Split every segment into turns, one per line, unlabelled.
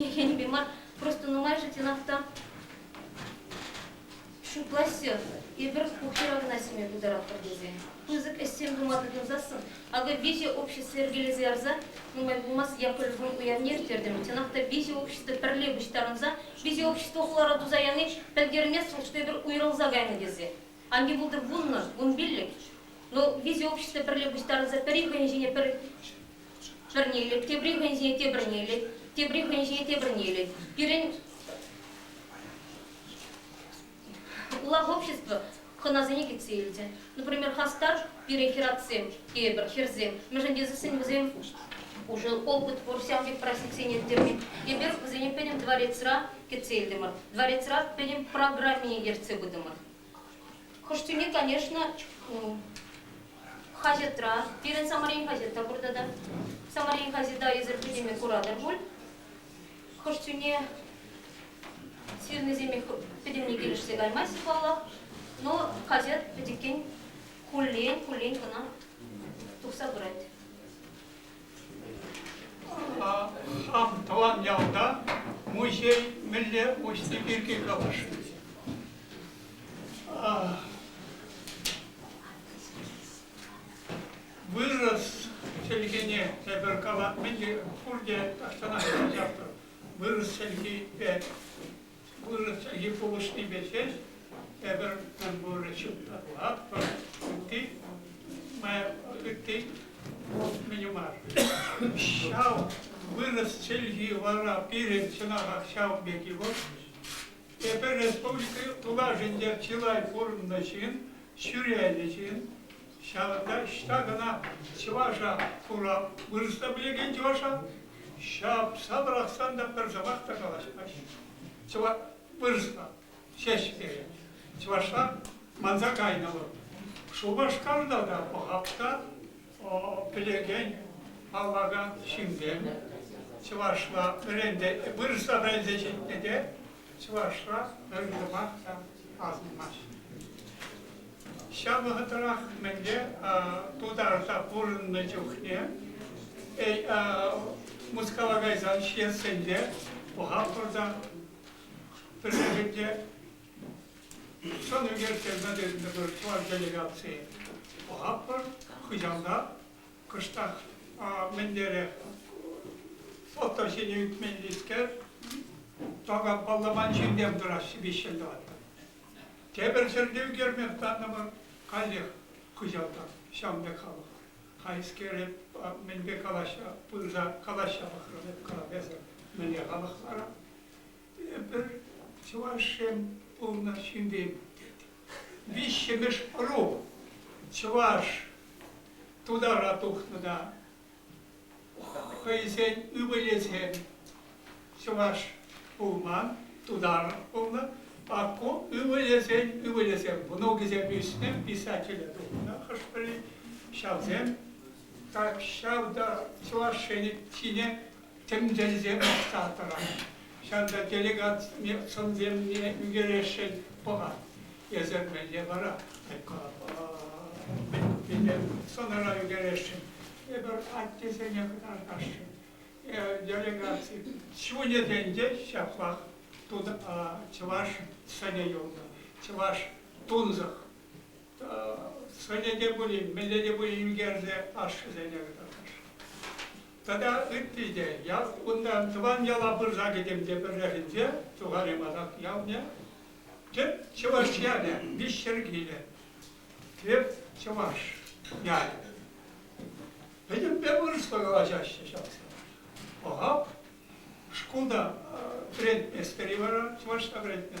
Хӗнпе мар, просто нумайӑшӗ тенах та ҫутлаҫҫӗ. Эпир пухира кӑна ҫиме пултаратпӑр тесе пысӑк ӗҫсем тума тытӑнсассӑн, акӑ виҫӗ общество йӗркелесе ярса, нумай пулмасть Яковлевӑн уявне ирттертӗмӗр. Чӑнах та виҫӗ общество пӗрле пуҫтарӑнса, виҫӗ общество хулара туса яни пӗлтермест вӑл, что эпир уйрӑлса кайнӑ тесе. Анне пултӑр вуннӑш, вун пиллӗкӗш. Но визе общество пӗрле пуҫтарӑнса пӗри хӑйӗн ҫине пӗр пӗрне илет, тепри хӑйӗн ҫине тепӗрне илет, тепри хӑйӗн ҫине тепӗрне илет. Пирӗн улах общество хӑнасене кӗтсе илчӗ. Например, хастар пирӗн хӗратсем, тейӗпӗр, хӗрсем. Мӗншӗн тесен вӗсем уже опыт пур ҫав пек практиксене ирттерме. Эпир вӗсене пӗтӗм дворецра кӗтсе илтӗмӗр. Дворецра пӗтӗм программине ертсе пытӑмӑр. Хӑш тӳни, конечно, хаҫатра, пирӗн Самарин хаҫат та пурта та. Самарин хаҫата эсир пӗтӗме куратӑр пуль. Хӑш тӳне ҫырнисемех пӗтӗмне килӗшсе каймасть паллах, но хаҫат пӗтӗкен хуллен-хуллен кӑна тухса пырать. Ав тӑван ялта музей мӗнле уҫни пирки калаҫать. Вырӑс чӗлхине тепӗр калат мӗн пурте тахҫанах кӑҫартӑр. Вырӑс чӗлхипе вырӑс йыпулӑшнипе ҫеҫ тепӗр мӗнпурри ҫутлатпӑр, ытти, ытти мӗн мар. Ҫав вырӑс чӗлхи вара пирӗн чӑнахах ҫав пек-и вӑл? Эпир республика тулашӗнче чылай пурӑннӑ ҫын, ҫӳренӗ ҫын, Ҫакӑнта ӑҫта кӑна чӑваша хура вырӑсла пӗлекен чӑваша ҫапса пӑрахсан та пӗр сӑмах та калаҫмаҫҫӗ. Чӑваш вырӑсла ҫеҫ пире. Чӑвашла манса кайнӑ вӑл. Шупашкарта та пӑхап та пӗлекен паллакан ҫынсем чӑвашла вырӑсла вӗренсе ҫитнӗ те чӑвашра пӗр юмах та асӑнмасть. Ҫав вӑхӑтрах мӗнле тутарса пурӑннӑ чухне Мускава кайсан ҫитсенте Пухапурта пӗррехинче сон ӳкерсе пӗтертӗмӗр чӑваш делегации. Пухапур хыҫалта кӑштах мӗнлерех фото ҫине ӳкменлискер такам палламан ҫынсем тӑраҫҫӗ виҫ ҫил тӑватта. Тепӗр ҫӗрте ӳкерме хӑтаннӑпӑр, каллех кӑҫалтан ҫавӑн пек халӑх. Хайскере мӗнпе калаҫҫа, пырса калаҫҫа пӑхрӑм эп кӑрап эсӗ мӗнле халӑх вара? Эпир, чӑвашсем, пурӑнас ҫынсем, виҫҫӗмӗш ӑру чӑваш тутара тухнӑ та хӑйсен ывӑлӗсем чӑваш пулман, тутар пулнӑ, а ку ывӑлӗсен ывӑлӗсем, внукӗсем ӳснӗ, писателе тухнӑ хӑш-пӗри, ҫавсем так ҫав та чӑвашсене ҫине тӗмтелсем акса тӑрать. Ҫакӑнта делегатсене сӑнсемне ӳкерессӗн пӑхать. Эсир мӗнле вара? Мӗнле сӑнара ӳкерессӗн? Эпир аттесене кӑтартасшӑн. Делегаци чунӗсенче ҫаплах чӑваш сӑнӗ юлнӑ, чӑваш тунсӑх сӑнӗ те пулин, мӗнле те пулин ӳкерсе ашшӗсене кӑтартасшӑн. Тата ытти те. Ял, кунта тӑван яла пырса кӗтӗм те пӗррехинче тухарӗ масак явнӗ. Тӗп чӑваш ялӗ, Мишер килӗ. Тӗп чӑваш ялӗ. Пӗтӗмпе вырӑсла калаҫаҫҫӗ ҫав. Пӑхап, шкулта вӗрентместпӗр-и вара, чӑвашла вӗрентме?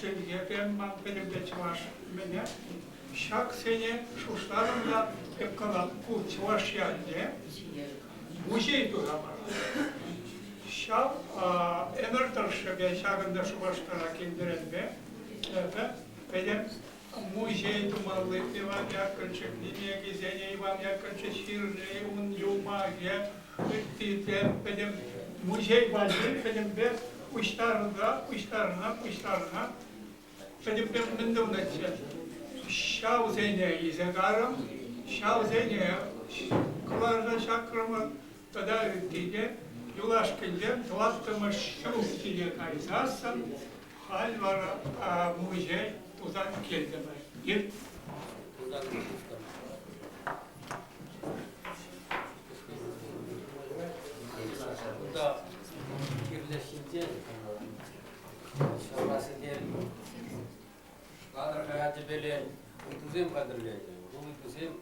Сергейӗм ман пӗтӗмпе чӑваш. Мене ҫаксене шутларӑм та тӗп калам, ку чӑваш ялне музей тураман. Ҫав ӗмӗр тӑршшӗпе ҫакӑнта Шупашкара килтеренпе эпӗ пӗтӗм Музей тумалли Иван Яковлевичӑн кӗсене Иван Яковлевич ҫырни ун юмахӗ ытти те пӗтӗм музей валли пӗтӗмпе пуҫтарӑна пуҫтарӑна пуҫтарӑна пӗтӗмпе мӗн тунӑччӗ. Ҫавсене илсе карӑм, ҫавсене кӑларса чакрӑмӑр, тата ытти те, юлашкинчен тӑваттӑмӗш ҫул киле кайсассӑн халь вара музей туса килтӗмӗр. Ир. Тутан Кунта кирлешинче ҫавасене кадр хаячӗпелен утусем хатӗрленӗ. Бұл утусем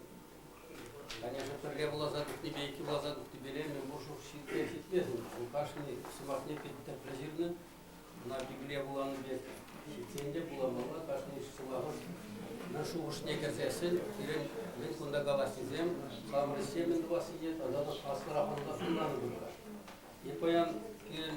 Конечно, пӗрре вуласа тухнипе, иккӗ вуласа тухнипеле мӗн пур шур ҫитме ҫитмесен, ку кашни сӑмахне пит тӗплӗ ҫырнӑ. Ӑна Библие вуланӑ пек ҫитсен те вуламалла, кашни сӑмахӑш мӗн шухӑшне кӗрсессӗн, пирӗн мӗн кунта калаҫнисем хамӑрӗссе мӗн тӑвассине тата та аслӑрах ӑнланса хунланӑ пултӑр. И паян пирӗн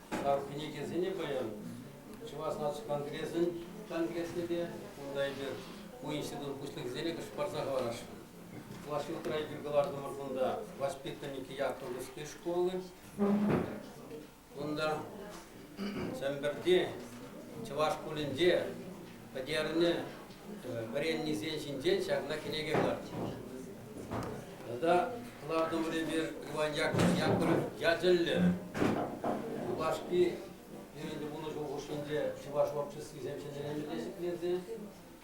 кӗнекесене паян Чӑваш наци конгресӗн тан кӗресне те, унта эпир у институт пуҫлӑхӗсене кӗш парса хӑварасшӑн. Чӑваш ҫуртра эпир кӑлартӑмӑр кунта воспитанники Яковлевской школы. Кунта Чӗмпӗрти чӑваш шкулӗнче пӗтернӗ вӗреннисен ҫинчен ҫакна кӗнеке кӑлартнӑ. Тата кӑлартӑврипе Иван Яковлев ячӗллӗ юлашки пирӗнтен пулӑшу хушшинче чӑваш обществисем ҫӗнӗлемелле ҫӗклесе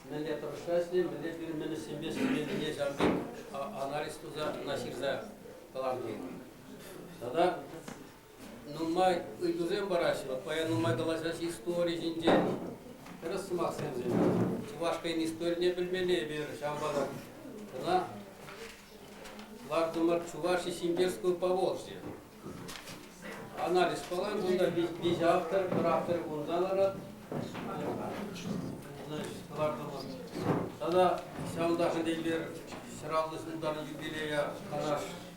мӗнле тӑрӑшса ӗҫле, мӗнле пирӗн ӗҫсемпе ӗҫлемеллине ҫав пек анализ туса ӑна ҫырса кӑларни. Тата нумай ыйтусем параҫҫӗ. Паян нумай калаҫаҫҫӗ истори ҫинчен. Тӗрӗс сӑмахсемсем. Чувашкин историне пӗлмелле эпир ҫавӑнпа та. Кӑна лартӑмӑр Чуваш Симбирскую Поволжье. Анализ кӑлан, кунта виҫӗ автор, пӗр автор кунта ларать. Значит, лартӑмӑр. Тата ҫавӑнташӑн эпир ҫӗр аллӑ ҫултан юбилея канаш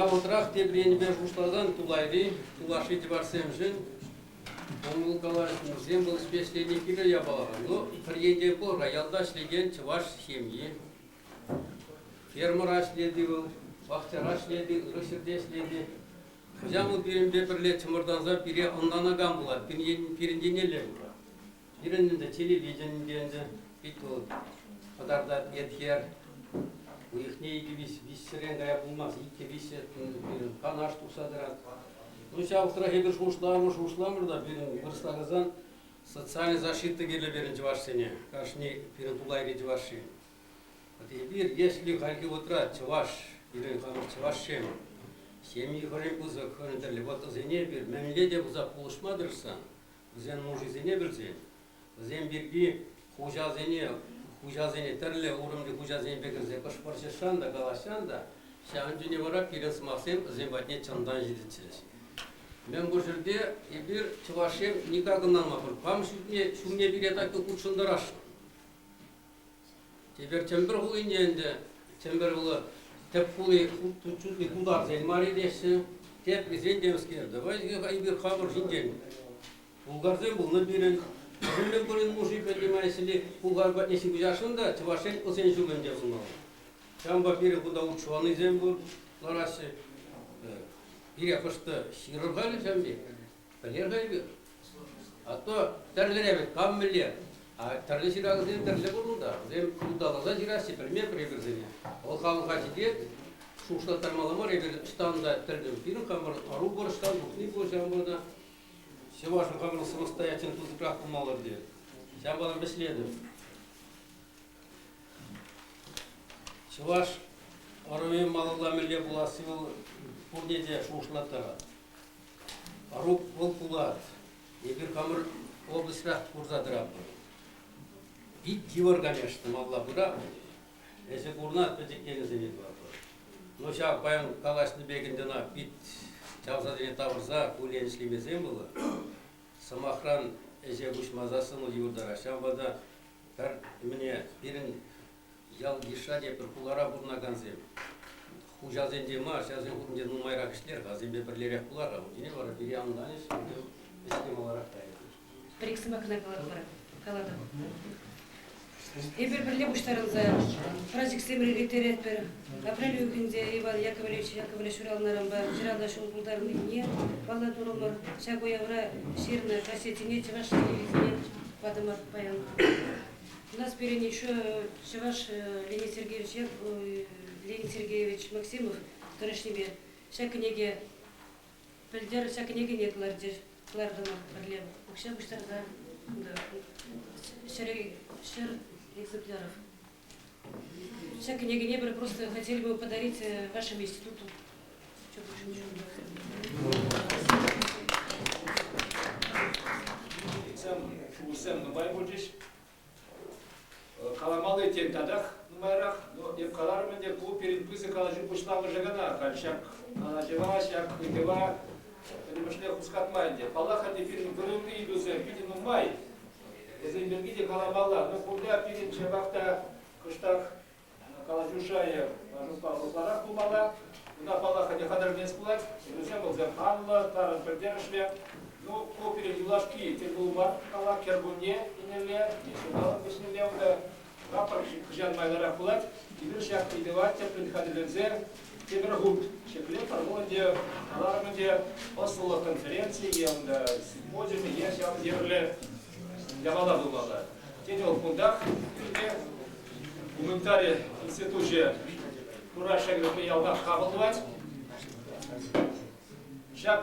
Явӑтрах тепӗр енӗпе шутласан тулайри, тулашри типарсемшӗн ӑмӑлкалаҫусем вӑл ӗҫлени кирлӗ япала. Ну, пӗр енте пӑр-ха, ялта ӗҫлекен чӑваш ҫемйи. Фермӑра ӗҫлет-и вӑл, пахчара ӗҫлет-и, ырӑ ҫӗрте ӗҫлет-и. Кӑҫал вӑл пирӗнпе пӗрле чӑмӑртанса пире ӑнланакан пулать, пирӗн еннелле пулать. Пирӗн ӗнтӗ телевиденипе ӗнтӗ пит вӑл пӑтарта Эрхер. Уйӑхне икӗ-виҫ виҫсерен кая пулмасть, иккӗ-виҫҫӗ пирӗн канаш тухса тӑрать. Ну ҫав тӑрах эпир шухӑшламӑр, шухӑшламӑр та пирӗн вырӑсларсан социаллӗ защита кирлӗ пирӗн чӑвашсене. Кашни пирӗн тулайри чӑваш-ши. Эпир, если хальхи вӑхӑтра чӑваш, пирӗн хамӑр чӑвашсем, ҫемйи хӑйӗн пысӑк, хӑйӗн тӗрлӗ вӑхӑтсене эпир мӗнле те пулса пулӑшма тӑрӑшсан, вӗсен нушисене вӗрсен, вӗсем пирки хуҫасене, хуҫасене тӗрлӗ уровньти хуҫасенпе кӗрсе кӑшпӑрҫӑшсан та калаҫсан та ҫавӑн чухне вара пирӗн сӑмахсем вӗсем патне чӑнтан ҫитӗччӗҫ. Мӗнпур ҫӗрте эпир чӑвашсем никак ӑнланмастпӑр. Кам ҫумне, ҫумне пире так хутшӑнтарасшӑн. Тепер Чӗмпӗр хулинче ӗнтӗ Чӗмпӗр хули тӗп хули чутли тутарсен марри теҫҫӗ. Теприсен те мӗскер. Давай эпир хапӑр ҫинчен. Булгарсем пулнӑ пирӗн. Мӗнле пурин муши понимаете булгар патне ҫыпӑҫасшӑн та чӑвашсен ӑсен ҫумӗнче пулмалла. Ҫавӑнпа пирӗн кунта утшӑнанисем пур лараҫҫӗ. Пире хӑш-то ҫырӑр халӗ ҫав пек. Пӗлер Кайпир. А то тӗрлӗре вӗт кам мӗнле. А тӗрлӗ ҫыравсем тӗрлӗ пур унта. Вӗсем ыталаса ҫыраҫҫӗ, пӗлместпӗр эпир-сене. Вӑл халӑха ҫитет, шухӑшлаттармалла мар, эпир ӑҫтан та тӗллӗн пирӗн хамӑр ӑру пур ӑҫтан тухни пур ҫавӑнпа та ҫӑвашӑн хамӑр самостоятельно пысӑкрах пулмалла пирте. Ҫавӑнпа та вӗҫлетӗп. Чӑваш ӑрӑвӗ малалла мӗнле пуласси вӑл пурне те шухӑшлаттарать. Ӑрук вӑл пулат. Эпир хамӑр облаҫрах курса тӑратпӑр. Пит йывӑр, конечно, малла пырап. Эсӗ курна пӗчӗк енӗсене тӑватпӑр. Но ҫав паян калаҫнӑ пекӗн ӑна пит чавсасене тавӑрса куллен ӗҫлемесен было. Сӑмахран, ӗҫе куҫмаса сӑнӑл юртарать. Ҫавӑнпа та пӗр мӗне пирӗн ял-йышра тепӗр хулара пурӑнакансем хуҫасенче мар, ҫавсен хушшинче нумайрах ӗҫлер-ха, вӗсемпе пӗрлерех пулар-ха. Утине вара пире ан ӑнланӗҫ, ӗҫке маларах кайӑр. Пӗр-ик сӑмах кӑна калатпӑр, калатӑп. Эпир пӗрле пуҫтарӑнса праздниксемӗр ирттеретпӗр. Апрель уйӑхӗнче Иван Яковлевич Яковлев ҫуралнӑранпа хӗрарӑм ҫул пултарнине паллӑ турӑмӑр. Ҫак уявра ҫырнӑ кассетине Чӑваш Ене илсе патӑмӑр паян. У нас пирӗн еще Чӑваш Леонид Сергеевич, Леонид Сергеевич Максимов тӑрӑшнипе ҫак кӗнеке пӗлтер ҫак кӗнекене кӑлартӗр кӑлартӑмӑр пӗрле укҫа пуҫтарса ҫӗр экземпляров Ҫак кӗнекене пӗр просто хотели бы подарить вашему институту. Курсем нумай пулчӗҫ. Каламалли тем татах нумайрах, но эп каларӑм ӗнтӗ, ку пирӗн пысӑк калаҫу пуҫламӑшӗ кӑна. Халь ҫак калаҫӑва, ҫак ыйтӑва пӗтӗмӗшле хускатма ӗнтӗ. Паллах, ӗнтӗ пирӗн вырӑнти ыйтусем питӗ нумай. Вӗсем пирки те каламалла. Мы пурля пирӗн ҫапах та кӑштах калаҫу шайӗ жестпа ытларах пулмалла. Кунта, паллах, ӗне хатӗрленес пулать. Вӗсем вӑлсем анлӑ, тарӑн пӗлтерӗшлӗ. Ну, ку пирӗн юлашки тӗл пулу мар. Кала, кӗркунне ӗнелле, ҫулталӑк вӗҫнелле унта Прапор хӑҫан майлӑрах пулать? Эпир ҫак ыйтӑва тӗплӗн хатӗрлесе тепӗр хут ҫӗклетпӗр. Вӑл ӗнтӗ каларӑм ӗнтӗ ӑслӑлӑх конференцийӗ, унта симпозиумӗ е ҫав евӗрлӗ япала пулмалла. Тен, вӑл кунтах пирте гуманитари институчӗ Кураша кӗрешме ялтах хапӑл тӑвать. Ҫак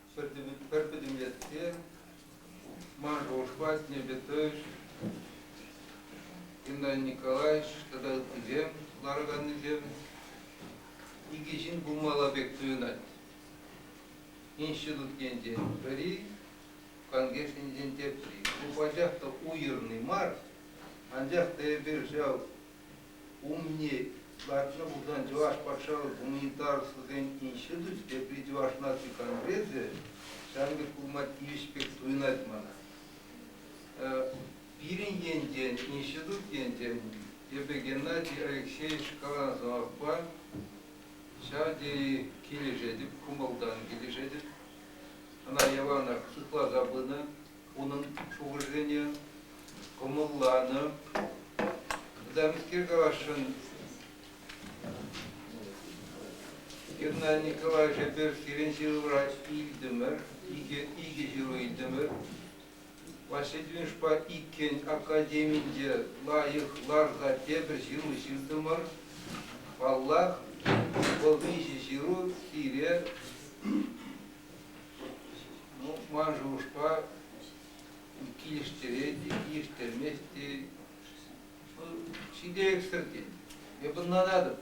пӗр пӗтӗмлетсе Маргушпа Небетович, Геннадий Николаевич тата ыттисем лараканнисем икӗ ҫын пулмалла пек туйӑнать. Институт енчен пӗри, конкурс енчен тепри. Ку пачах та уйрӑмный мар, анчах та эпир ҫав Умне лартнӑ пулсан Чӑваш патшалӑх гуманитарӑслӑхӗн институчӗ, тепри Чӑваш наци конгресӗ, ҫавӑн пек пулма тивӗҫ пек туйӑнать мана. Пирӗн енчен, институт енчен, эпӗ Геннадий Алексеевич Каланзавпа ҫав тери килӗшетӗп, кӑмӑлтан килӗшетӗп. Ӑна яванах сыхласа пынӑ, унӑн шухӑшӗсене кӑмӑлланӑ. Заместитель тӑвасшӑн Геннадий Николаевич Аперскирен ҫырӑвра илтӗмӗр, икӗ, икӗ ҫыру илтӗмӗр. Васильевичпа иккӗн академинче лайӑх ларса тепӗр ҫыру ҫыртӑмӑр. Паллах, вӑл виҫӗ ҫыру сире ман шухӑшпа килӗштерет те килӗштермест те ҫителӗксӗр тен. Эп ӑнланатӑп.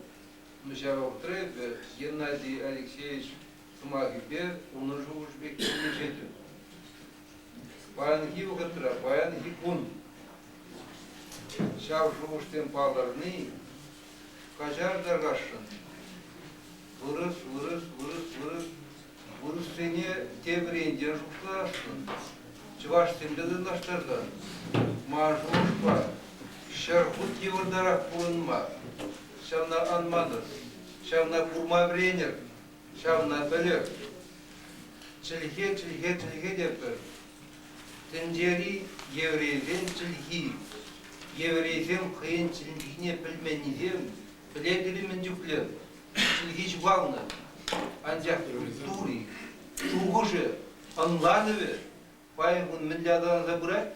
Ну ҫав вӑхӑтра эпӗ Геннадий Алексеевич сӑмахӗпе унӑн шухӑшӗпе килӗшетӗп. Паянхи вӑхӑтра, паянхи кун ҫав шухӑшсем палӑрни каҫар та кашшӑн. Вырӑс, вырӑс, вырӑс, вырӑс. Вырӑссене тепӗринчен шутласшӑн. Чӑвашсемпе танлаштарсан Мажурпа ҫӗр хут йывӑртарах пурӑнма. Ҫавна ан манӑр, ҫавна курма вӗренӗр, ҫавна пӗлӗр. Чӗлхе, чӗлхе, чӗлхе тетпӗр. Тӗнчери еврейсен чӗлхи. Еврейсем хӑйӗн чӗлхине пӗлменнисем Пӗлетӗр-и мӗн чухлӗ чӗлхи ҫухалнӑ? Анчах тури, шухӑшӗ, ӑнланӑвӗ паян кун мӗнле аталанса пырать?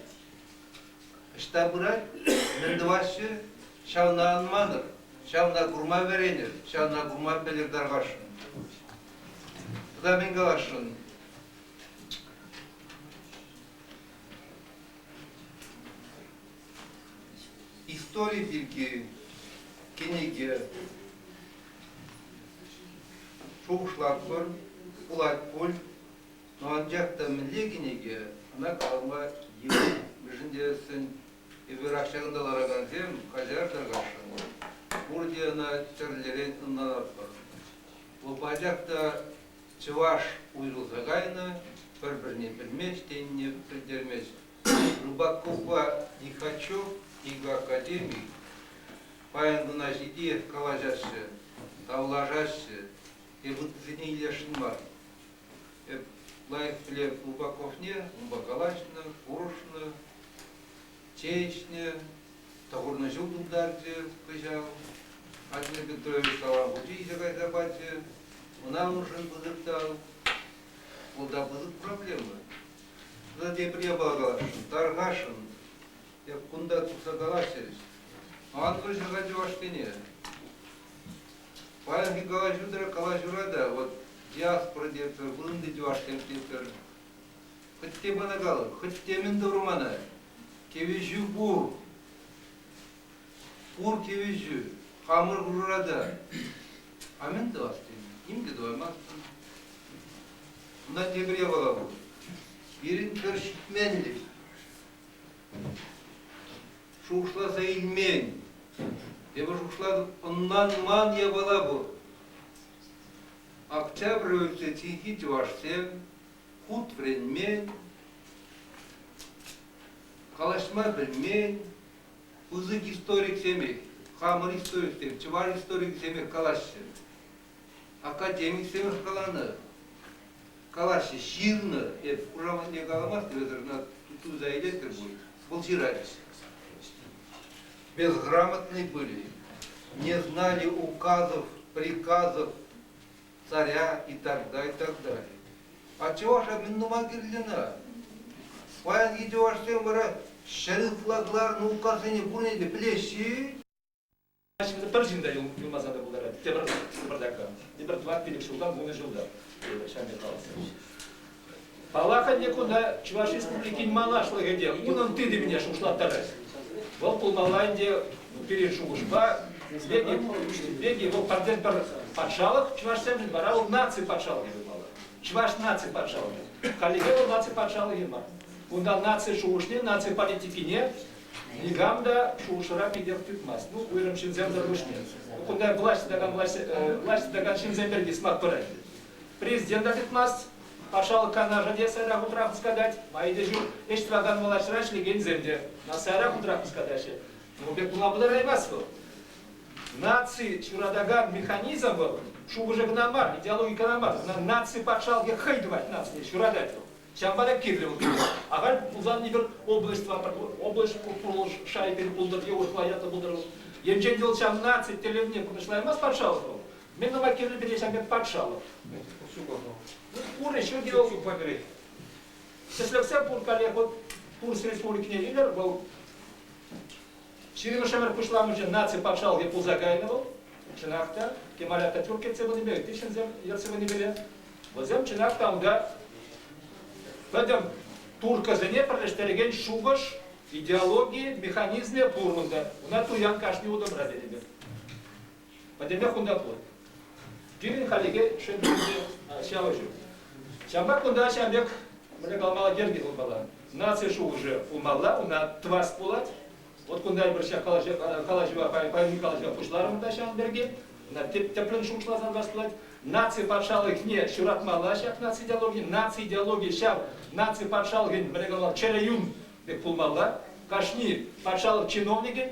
Ӑҫта пырать? Мӗн тӑваҫҫӗ? Ҫавна анманӑр, ҫавна курма вӗренӗр, ҫавна курма пӗлӗр тархасшӑн. Тата мӗн каласшӑн? Истори пирки кӗнеке шухӑшлатпӑр, пулать пуль, но анчах та мӗнле кӗнеке, ӑна калама йывӑр. Мӗншӗн тесен эпирах ҫакӑнта ларакансем каҫартӑр кашӑн. Пурте ӑна тӗрлӗрен ӑнланатпӑр. Вӑл пачах та чӑваш уйрӑлса кайнӑ, пӗр-пӗрне пӗлмест тенине пӗлтермест. Рубаковпа Нихачев икоакадеми паян кӑна ҫити калаҫаҫҫӗ, тавлашаҫҫӗ, те ыттисене илесшӗн мар. Эп лайӑх пӗлем Рубаковне, унпа калаҫнӑ, курӑшнӑ, чеҫнӗ, тӑхӑрнӑ ҫул тултарчӗ кӑҫал. Владимир Петрович калав хучӗ илсе кайса пачӗ. Ӑна уншӑн пысӑк тав. Вӑл та пысӑк проблема. Ӑна тепӗр япала, тархасшӑн. Эп кунта тухса калас терӗҫ. Ан кӑчӑрха чӑвашсене. Паянхи калаҫу-тӑра калаҫура та вот диаспора тетпӗр, ытти чӑвашсем тетпӗр. Хӑтте пана кал, хӑтте мӗн тӑвӑр мана? Кӗвӗҫӳ пур. Пур тивӗҫӳ хамӑр пурра та амент тӑвас тенӗ, ним те тӑваймастӑн. Кунта тепӗр япала пур. Пирӗн пӗр ҫитменлӗх. Шухӑшласа илмен. Тепӗр шухӑшлатӑп, ӑнланман япала пур. Октябрь университетӗнчи чӑвашсем хут вӗренмен, калаҫма пӗлмен, пысӑк историксемех, хамӑр историксем, чӑваш историкӗсемех калаҫҫӗ. Академиксем каланӑ, калаҫҫӗ, ҫырнӑ. Эп хушаматне каламастӑп, эсӗр ӑна туса илетӗр пуль. Вӑл ҫыратчӗ. Безграмотны были, не знали указов, приказов, царя и так далее, и так далее. А чӑваша мӗн тума кирлӗ-ха? Паян икӗ чӑвашсем вара ҫӗр ытла кӑларнӑ указсене пурне те пӗлеҫҫӗ. Значит, пӗр ҫын та юлмаса та пултарать. Тепӗр тепӗр тапка, тепӗр тӑват пилӗк ҫулта, вунӑ ҫулта. Ҫавӑн пек калас. Паллах ӗнтӗ, кунта Чӑваш Республикин малашлӑхӗ те унӑн тытӑмне шухӑшлаттарать. Вӑл пулмалла ӗнтӗ пирӗн шухӑшпа. Узбеки вӑл пӗртен-пӗр патшалӑх чӑвашсемшӗн, вара вӑл наци патшалӑхӗ пулмалла. Чӑваш наци патшалӑхӗ. Хальлӗхе вӑл наци патшалӑхӗ мар. Унта наци шухӑшне, наци политикине никам та шухӑшӑра питех тытмасть. Ну, уйрӑм ҫынсем тӑрӑшне. Кунта власть тытакан, власть, власть тытакан ҫынсем пирки сӑмах пырать. Президента тытмасть. Патшалӑх канашӗ те сайра хутрах хускатать, майӗпе ҫук ӗҫ тӑвакан влаҫра ӗҫлекенсем те сайра хутрах хускатаҫҫӗ. Ну, пек пулма пултараймасть вӑл. Наци ҫуратакан механизм вӑл шухӑшӗ кӑна мар, идеологи кӑна мар, ӑна наци патшалӑхӗ хӑй тӑвать нацие, ҫуратать вӑл. Ҫавӑнпа та кирлӗ вӑл. Ахаль пулсан егер область вапӑр, область курулӑш шайӗпен пултӑр е урӑхла ятлӑ пултӑр вӑл. Енчен те вӑл ҫав наци тӗллевне пурнӑҫлаймасть патшалӑх вӑл, Мӗн тума кирлӗ пире ҫав пек патшалӑх? Ну, пур еще дело тут погрыть. Тӗслӗхсем пур каллех вот курс республикине илер вӑл ҫирӗмӗш ӗмӗр пуҫламӑшӗ наци патшалӑхӗ пулса кайнӑ вӑл. Чӑнах та, Кемаля та тӳр кӗтсе пынипе тихҫӗнсем ертсе пынипе вӗсем чӑнах та унта пӗтӗм туркӑсене пӗрлештерекен шухӑш, идеологи, механизмӗ пур унта. Уна туян кашни утӑмра тенӗ пек. Пӗтӗмпех кунта пур. Пирӗн халӗхе шӗнтӗрӗнче ҫавӑ ҫук. Ҫавӑнпа кунта ҫав пек мӗне калмалла йӗрке пулмалла. Наци шухӑшӗ пулмалла, ӑна тӑвас пулать. Вот кунта эпир ҫак калаҫӑва, паян калаҫӑва пуҫларӑмӑр та ҫавӑн пирки. Ӑна тӗплӗн шухӑшласан вас пулать. Наци патшалӑхне шыратмалла ҫак наци идеологийӗ. Наци идеологийӗ ҫав наци патшалӑхӗн мӗне калмалла чӗрӗ юн пек пулмалла. Кашни патшалӑх чиновникӗ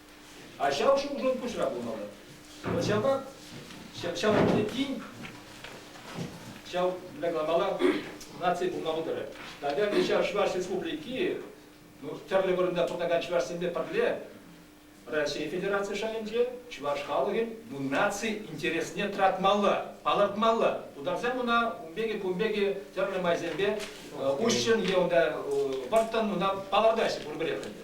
А ҫав ҫулшӑн пуҫра пулмалла. Вӑл ҫапах ҫав ӗнтӗ тин ҫав мала наци пулмалла тӑрӗ. Наверное, ҫав Чӑваш Республики ну, тӗрлӗ вырӑнта пурӑнакан чӑвашсемпе пӗрле Раҫҫей Федераци шайӗнче чӑваш халӑхӗн ну, наци интересне тӑратмалла, палӑртмалла. Тутарсем ӑна ун пекки кун пекки тӗрлӗ майсемпе уҫҫӑн е унта вӑрттӑн ӑна палӑртаҫҫӗ пурпӗрех ӗнтӗ.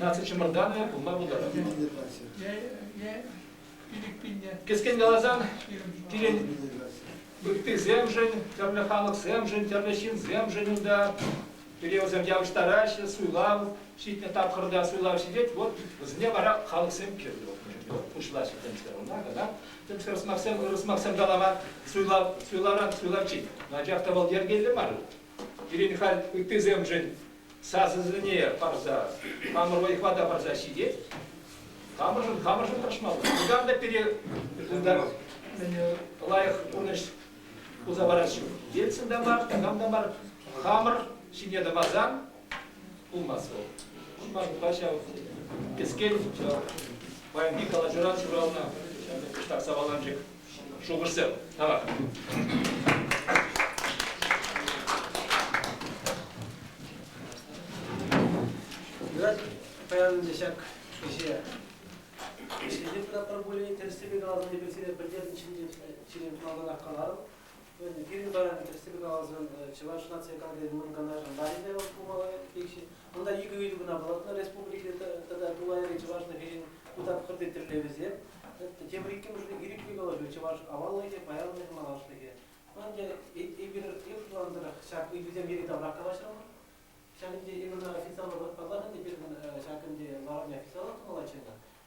Наци чӑмӑртанӑ пулма пултарать. Кӗскен каласан, пирӗн ыттисемшӗн, тӗрлӗ халӑхсемшӗн, тӗрлӗ ҫынсемшӗн унта периодсем явӑҫтараҫҫӗ, суйлав ҫитнӗ тапхӑрта суйлав ҫитет, вот вӗсене вара халӑхсем кирлӗ пуҫлаҫҫӗ темскер ӑна кӑна темскер сӑмахсем ырӑ сӑмахсем калама суйлав суйлавран суйлавччен анчах та вӑл йӗркеллӗ мар пирӗн халь ыттисемшӗн сасӑсене парса, хамӑр вӑй-хӑва та парса ҫитет. Хамӑршӑн хамӑршӑн тӑрӑшмалла. Никам та пире кунта лайӑх пурнӑҫ туса парас ҫук. Ельцин та мар, никам та мар. Хамӑр ҫине тӑмасан пулмасть вӑл. Ӑшма пуха ҫав кӗскен ҫав паянхи калаҫуран ҫуралнӑ ҫак саваланчӑк. Шухӑшсем. Давай. паян те ҫак ӗҫе ӗҫлесе пыратпӑр пулин тӗрӗссипе каласан эпир сире пӗлтернӗ ҫинчен ҫирӗп малтанах каларӑм. Пирӗн паян тӗрӗссипе каласан Чӑваш наци кадрин мӑн канашӗн ларипе пулмалла икҫӗ. Кунта икӗ ыйту кӑна палӑртнӑ республикӑри тата тулайри чӑвашла кӗҫӗн ку тапхӑрти тӗллевӗсем. Тепӗр иккӗмӗшне ирӗклӗ калаҫу чӑваш аваллӑхӗ, паянлӑхӗ, малашлӑхӗ. Ӑнтӗ эпир эп шутланӑ тӑрӑх ҫак ыйтусем йӗри-таврах калаҫрӑмӑр. Ҫак ӗнтӗ эпир ӑна официаллӑ паллах ӗнтӗ пирӗн ҫак ӗнтӗ ларӑвне официаллӑ тумаллаччӗ ӑна.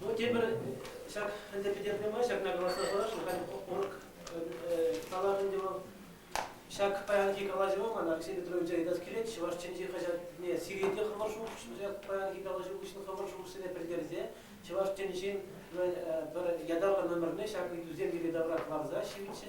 Ну, тепӗр ҫак ӗнтӗ пӗтернӗ май ҫакна каласа парасшӑн, халь орг калатӑн те вӑл ҫак паянхи калаҫӑва ман Алексей Петровича ыйтас килет чӑваш чӗнчи хаҫатне сирете хӑвӑр шухӑш ҫак паянхи калаҫу хыҫҫӑн хӑвӑр шухӑшсене пӗлтерсе чӑваш чӗнчин э, пӗр ятарлӑ номерне ҫак ыйтусем пирки тавра кӑларса ҫивӗччӗ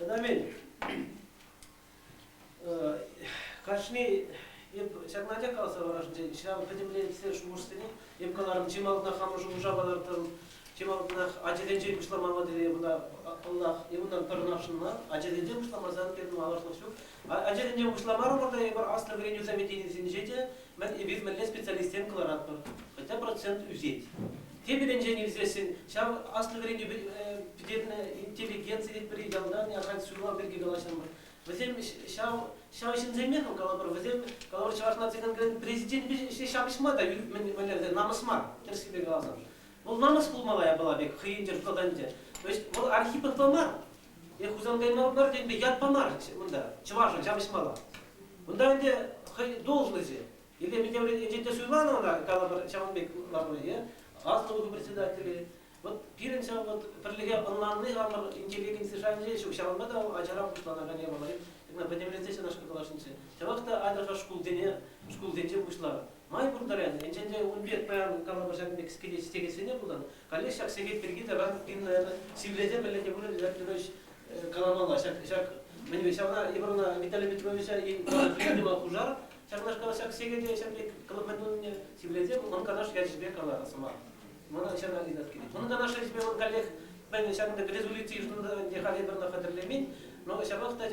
Ӗмӗн, кашни эп ҫакна те каласа парасшӑн, ҫав пӗтӗмлетсе шухӑшсене эп каларӑм, чи малтанах хамӑр шухӑша палӑртӑм, чи малтанах ачасенчен пуҫламалла тесе мана паллах, е унтан пӗрнашӑнма, ачасенчен пуҫламасан пирӗн малашлӑх ҫук. Ачасенчен пуҫламарӑмӑр та эпир аслӑ вӗренӳ заведенийӗсенче те, Мӗн, эпир мӗнле специалистсем кӑларатпӑр, хӑтя процент ӳсет. Тепӗринчен илсессӗн, ҫав аслӑ вӗренӳ пӗтернӗ интеллигенци тетпӗр-и ялта, ахаль суйлав пирки калаҫрӑмӑр. Вӗсем ҫав, ҫав ҫынсемех, калӑпӑр, вӗсем, калӑпӑр, Чӑваш наци конкуренчӗн президенчӗпе ӗҫе ҫапӑҫма та мӗнле намӑс мар, тӗрӗслеве каласан. Вӑл намӑс пулмалла япала пек хӑйӗнчен шутлатать ӗнтӗ. Вӑл Архипов та мар, Е Хусанкай мӑрсемпе ят памарӗччӗ унта, чӑвашӑн ҫапӑҫмалла. Унта ӗнтӗ хӑй должноҫӗ. Или Минтеврен ӗнтӗ суйланӑ ӑна калӑпӑр ҫавӑн пек лару-е, аслӑ вӑхӑт председателӗ. Вот пирӗн ҫав вот пӗрлӗхе ӑнланни хамӑр интеллигенци шайӗнче ҫук, ҫавӑнпа та ачара пуҫланакан япаласем пӗтӗмлетсе ҫынашкӑн калаҫнӑччӗ. Чӑваш та атӑша шкулсене, шкулсенче пуҫланӑ. Май пур таран, енчен те ун пек паян калӑпӑр ҫакӑн пек кӗтес текессине пулсан, Каллех ҫак сехет пирки таран Инна сивлете-мӗллете пырать, Ҫак Григорьевич каламалла, ҫак, ҫак мӗн ҫавна Ивановна Виталий Петровича видимо пушар, ҫакнашкал ҫак сехете ҫак пек мӗн тунине сивлете, мӑн канаш ячӗпе каларӗ сӑмах. Мана ҫара ыйтас килет. Мӑн канаш ячӗпе мӑн каллех мӗн ҫакӑнта резолюци йышӑннӑ те халӗ пӗр хатӗрлемен, но ҫапах та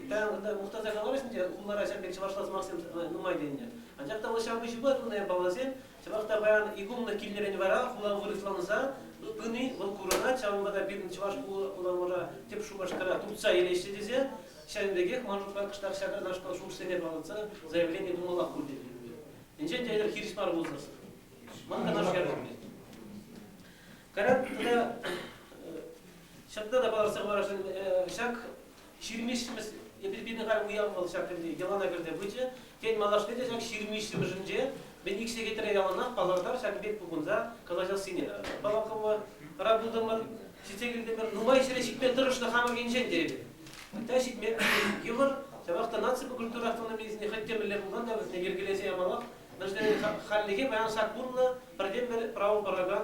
та мухтаса каларӗҫ те хулара ҫак пек чӑвашла сӑмахсем нумай тенӗ. Анчах та ҫав пуҫ пулать унта палласем, Чӑнах та паян иконлӑ килнӗрен вара хула вырӑсланса пыни вӑл курӑнать, ҫавӑнпа та пирӗн чӑваш урамра тӗп Шупашкара туртса илеҫҫӗ тесе ҫавӑн пекех ман шутпа кӑштах ҫакнашкал ҫуртсене палӑртса заявлени тумалла пуль тет ӗнтӗ. Инҫен те эпир хирӗҫ мар пулсассӑн. Ман канашлу Карап тата ҫакна та палӑртса хӑварасшӑн, ҫак Ҫырмиҫкӗмӗс эпир пинӗ халь уяв вӑл ҫак тӗнче йӑлана кӗрсе пычӗ. Тен, малашне те ҫак ҫырмиҫҫӗмӗшӗнче мӗн ик сехетре яланах палӑртар ҫакӑн пек пухӑнса калаҫассине. Паллакӑмӑра пултӑмӑр, ҫитсе килтӗмӗр. Нумай ҫӗре ҫитме тӑрӑшнӑ хамӑр енчен терӗпӗр. Та ҫитме йывӑр. Ҫавах та наципа культура автономийӗсене хӑть те мӗнле пулсан та вӗсене йӗркелесе ямаллах. Мӗншӗн тесен хальлӗхе паян саккунлӑ пӗртен-пӗр право паракан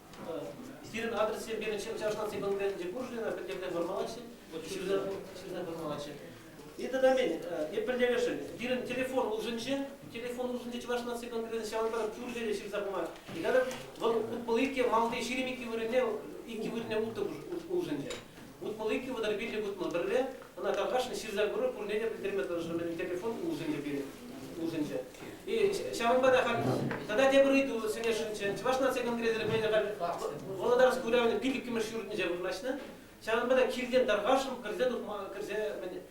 Сирӗн адресре пирӗн чӑвашлансен конкурентӗнче куршуна пӗртен вырмалаҫҫӗ, ҫырса вырмалаҫҫӗ. И тата мен, эпир левешӗн, пирӗн телефон улшӑнчӗ, телефон улшӑнчӗ чӑваш наци конкуренти ҫавӑнпа кӳршӗре ҫырса пыма. И тата вӑл пыл икке малти ҫирӗм икки вырӑнне икки вырӑнне ултӑ улшӑнчӗ. Утмӑл иккӗ, вӑтӑр пиллӗк утмӑл пӗрре, ӑна тархасшӑн ҫырса курӑр, пурне те пӗлтерме тӑрӑшрӑм мӗн телефон улшӑнчӗ пирӗн, улшӑнчӗ. И ҫавӑнпа та халь тата тепӗр ыйту сӗнесшӗнччӗ. Чӑваш наци конгресӗ пӗлнӗ халь Володарск уявӗн пилӗккӗмӗш ҫуртӗнче вырнаҫнӑ. Ҫавӑнпа та килтен тархасшӑн кӗрсе тухма кӗрсе мӗн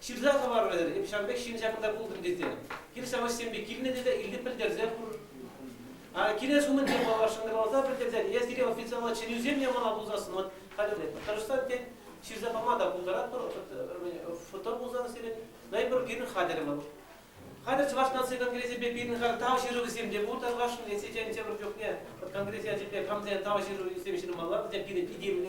Ҫырса хӑварӑр, эп ҫан пек ҫын ҫакӑнта пултӑм тесе. Хир-савӑҫсемпе килнӗ тесе Илле пӗлтерсе хур. Килес умӗн тен паллах шӑнкӑравласа пӗлтерсен, е сире официаллӑ чӗнӳсем ямана пулсассӑн вӑт, хатӗрлетпӗр. Тӑрӑшсан, тен, ҫырса пама та пултаратпӑр, фото пулсан сирӗн Снайпер пирӗн хатӗрӗмӗр. Хатӗр Чӑваш наци конгресӗпе пирӗн халь тав ҫырӑвӗсем те пур Тархасшӑн, эсӗ тен, тепӗр чухне Конгресс ячӗпе хамсен тав ҫырӑвӗсем ҫырмалла, вӗсем пирӗн итемлӗ.